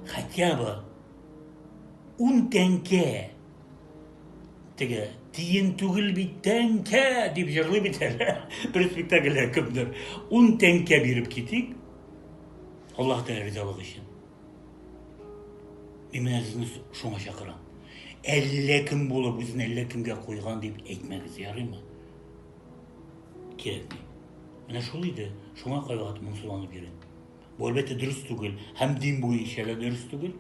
Хотя бы ун тәңкә теге тиен түгел бит тәңкә дип җырлый бит әле бер спектакльдә кемдер ун тәңкә биреп китик аллаһ тәғәлә ризалыгы өчен мин менә сезне шуңа чакырам әллә кем булып үзен әллә кемгә куйган дип әйтмәгез ярыймы кирәкми менә шул иде шуңа кайгыртып моңсуланып йөрим Бу әлбәттә дөрес түгел һәм дин буенча да дөрес түгел.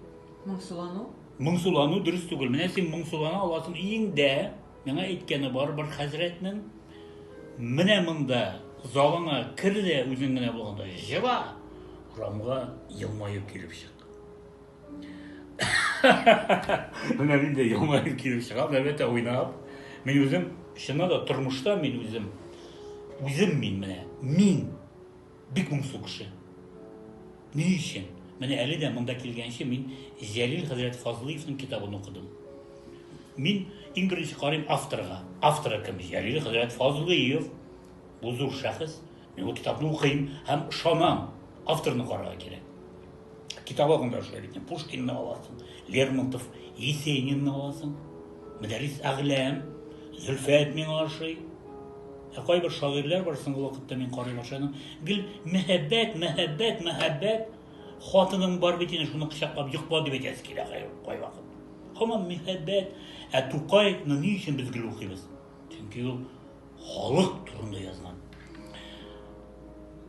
Моңсулану? Моңсулану дөрес түгел. Менә син моңсулана аласың иң дә миңа әйткәне бар бер хәзрәтнең менә монда залыңа кер дә үзең генә булганда җыла, урамга елмаеп килеп чык. Менә мин дә елмаеп килеп чыгам, әлбәттә уйнап. Мин үзем чыннан да тормышта мин үзем үзем мин менә мин Бик моңсу кеше. Ни өчен? Менә әле дә монда килгәнче мин Җәлил хәзрәт Фазлыевның китабын укыдым. Мин иң беренче карыйм авторга. Авторы кем? Җәлил хәзрәт Фазлыев. Бу зур шәхес. Мин ул китапны укыйм һәм ышанам, авторны карарга кирәк. Китапларны да шулай бит. Пушкинны аласың, Лермонтов, Есенинны аласың. Мөдәррис Әгъләм, Зөлфәт миңа ошый. Ә кайбер шагыйрьләр бар соңгы вакытта мин карый башладым. Гел мәхәббәт, мәхәббәт, мәхәббәт. Хатының бар бит инде, шуны кочаклап йокла дип әйтәсе килә кайвакыт. Һаман мәхәббәт. Ә Тукайны ни өчен без гел укыйбыз? Чөнки ул халык турында язган.